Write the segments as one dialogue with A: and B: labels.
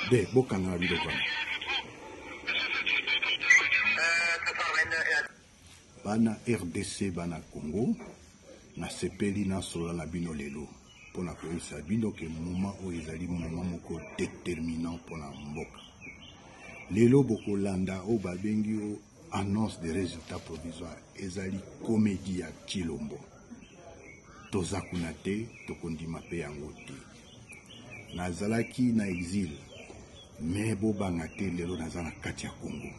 A: de bokangaka biloko wana bana rdc bana congo nasepeli nasola na bino lelo mpo na koyebisa bino ke moma oyo ezali moma moko determinant mpo na mboka lelo bokolanda oyo babengi o annonce des résultats provisoires ezali comédie ya Tshilombo toza kuna te tokondima mpe yango te nazalaki na exil me bobanga te lelo naza na kati ya Congo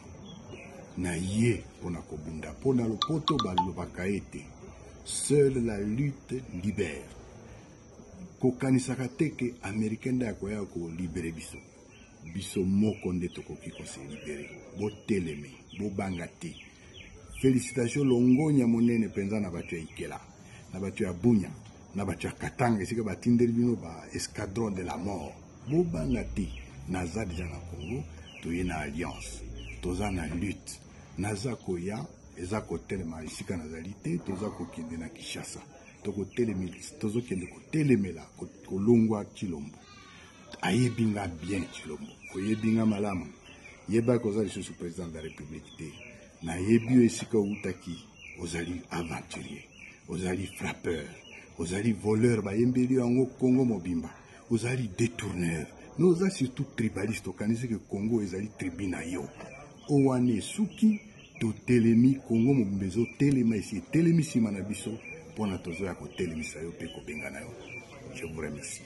A: na ye mpo na kobunda mpo na lopoto balobaka ete seule la lutte libère kokanisaka te ke américain nde akoya kolibere biso biso moko nde tokoki koselibere boteleme bobanga te félicitation longonya monene mpenza na bato ya ikela na bato ya bunya na bato ya katanga esika batindeli bino ba escadron de la mort bobanga te naza deja na congo toye na alliance toza na lutte naza koya eza kotelema esika nazali te toza kokende na kinshasa tozokende kotelemela kolongwa tshilombo ayebi nga bien tshilombo oyebi nga malamu yebaki oza lisusu président de la république te nayebi yo esika outaki ozali aventurier ozali frappeur ozali voleur bayembeli yo yango congo mobimba ozali détourneur no oza surtout tribaliste okanisi ke congo ezali tribu na yo oyo wana esuki totelemi congo mobimba ezotelema esi etelemi nsima na biso mpo na tozoya kotelemisa yo mpe kobengana yo je vous remercie